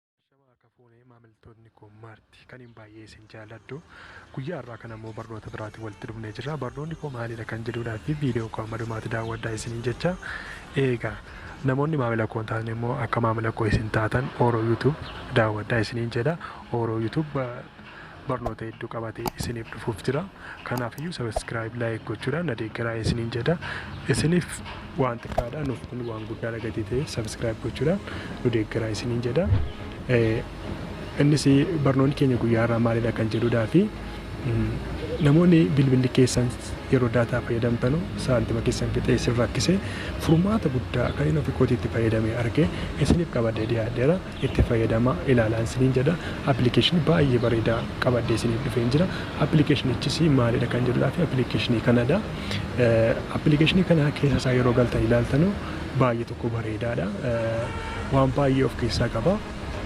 Shama harka fuune maamiltoonni koo maarti kaniin baay'ee isin jaalladhu guyyaa har'aa kana immoo barnoota biraatiin walitti dhufnee jirra barnoonni koo maalidha kan jedhuudhaa fi viidiyoo koo amma dhumaatti daawwadhaa isiniin jecha eegaa namoonni maamila koo hin taane immoo akka maamila koo isin taatan ooroo yuutuub daawwadhaa isiniin jedha ooroo yuutuub barnoota hedduu qabatee isiniif dhufuuf jira. Kanaafiyyuu subscribe like gochuudhaan na deeggaraa isiniin jedha. Isiniif waan xiqqaadha nuuf kun waan guddaadha gatii ta'e subscribe gochuudhaan nu deeggaraa isiniin jedha. Eh, Innis barnoonni keenya guyyaa irraa maalidha kan jedhudhaa fi mm, namoonni bilbilli keessan yeroo daataa fayyadamtanu saantima keessan fixee isin rakkise furmaata guddaa kan inni ofi kootiitti fayyadame arge isiniif qabadhee dhiyaadheera. itti fayyadamaa ilaalaan siniin jedha. Appilikeeshinii baay'ee bareedaa qabadhee siniif dhufeen jira. Appilikeeshinichis maalidha kan jedhudhaaf appilikeeshinii kanadha. Appilikeeshinii kana keessa isaa yeroo galtan ilaaltanu baay'ee tokko bareedaadha. Waan baay'ee of keessaa qaba.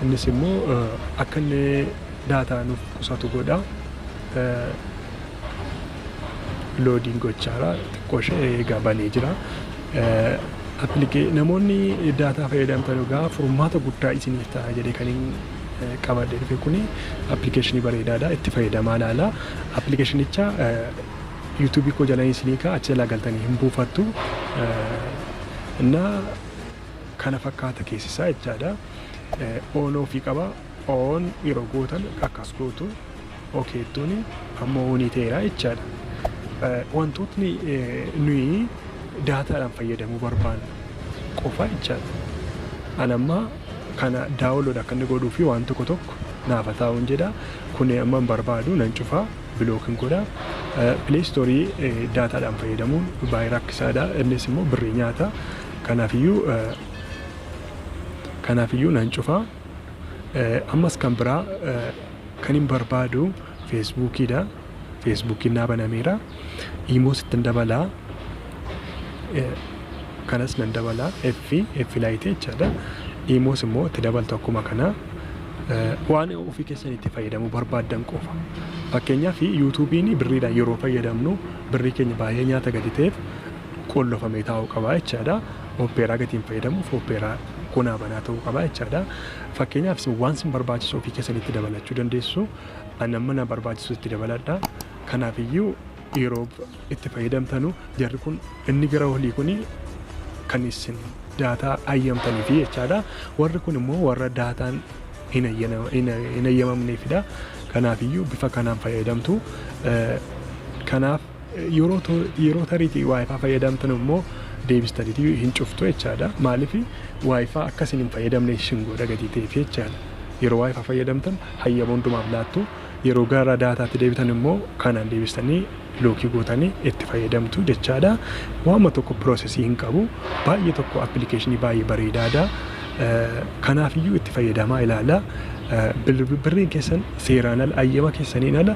Innis immoo akka inni daataa nuuf qusatu godha. loodiin gochaara xiqqoo ishee eegaa banee jira. Appilike namoonni daataa fayyadamtan egaa furmaata guddaa isiniif ta'a jedhee kan hin qabadhe dhufe kun appilikeeshinii bareedaadha itti fayyadamaa laala. Appilikeeshinicha yuutuubii koo jalanii isinii ka'a achi jalaa galtanii hin buufattu. Innaa kana fakkaata keessisaa jechaadha. Oon ofii qaba. Oon yeroo gootan akkas gootu. Okay iddooni amma onii ta'eera jechaadha. Wantootni nuyi daataadhaan fayyadamuu barbaannu qofa jechaadha. An amma kana daawolood akka inni godhuu fi waan tokko tokko naafa taa'uun jedha. Kun amma hin barbaadu nan cufa bilookin godha. Pileestoorii daataadhaan fayyadamuun baay'ee rakkisaadha. Innis immoo birrii nyaata. Kanaafiyyuu kanaafiyyuu nan cufa. Ammas kan biraa Kanin barbaadu Facebook dha. Facebook naa banameera. Imo sittin dabala. Kanas nan dabala. F F laayite jechaadha. Imos immoo itti dabaltu akkuma kana. Waan ofii keessan itti fayyadamuu barbaaddan qofa. Fakkeenyaaf yuutuubiin birriidhaan yeroo fayyadamnu birrii keenya baay'ee nyaata gadi ta'eef qollofamee taa'uu qaba jechaadha. Oppeeraa gatiin fayyadamuuf oppeeraa kunaa banaa ta'uu qaba jechaadha. Fakkeenyaaf isin waan isin barbaachisu ofii keessanitti dabalachuu dandeessu. Ani amma na barbaachisu itti dabaladha. Kanaafiyyuu yeroo itti fayyadamtanu jarri kun inni gara olii kun kan isin daataa ayyamtaniifi jechaadha. Warri kun immoo warra daataan hin ayyanama- hin hin ayyamamneefidha. Kanaafiyyuu bifa kanaan fayyadamtu. Eh, Kanaaf Yeroo tariitii waayifaa fayyadamtan immoo deebistanitii hin cuftu jechaadha. Maaliif waayifaa akka isin hin fayyadamne isin godha gatii ta'eef jechaadha. Yeroo waayifaa fayyadamtan hayyama hundumaaf laattu. Yeroo gara daataatti deebitan immoo kanaan deebistanii lookii gootanii itti fayyadamtu jechaadha. Waanuma tokko piroosesii hin qabu. Baay'ee tokko appilikeeshinii baay'ee bareedaadha. Kanaafiyyuu itti fayyadamaa ilaala. Birriin keessan seeraan ala ayyama keessaniin ala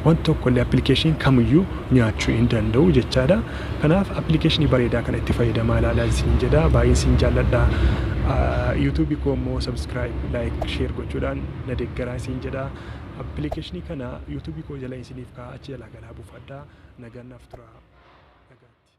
Wanti tokko illee appilikeeshiniin kamiyyuu nyaachuu hin danda'u jechaadha. Kanaaf appilikeeshinii bareedaa kana itti fayyadamaa ilaalaa isin jedha. Baay'een isin jaalladha. Yuutuubii koo immoo sabskiraayib, laayik, sheer gochuudhaan na deeggaraa isin jedha. Appilikeeshinii kana yuutuubii koo jala isiniif kaa'aa achi jalaa galaa buufadhaa. Nagaan naaf turaa. Nagaatti.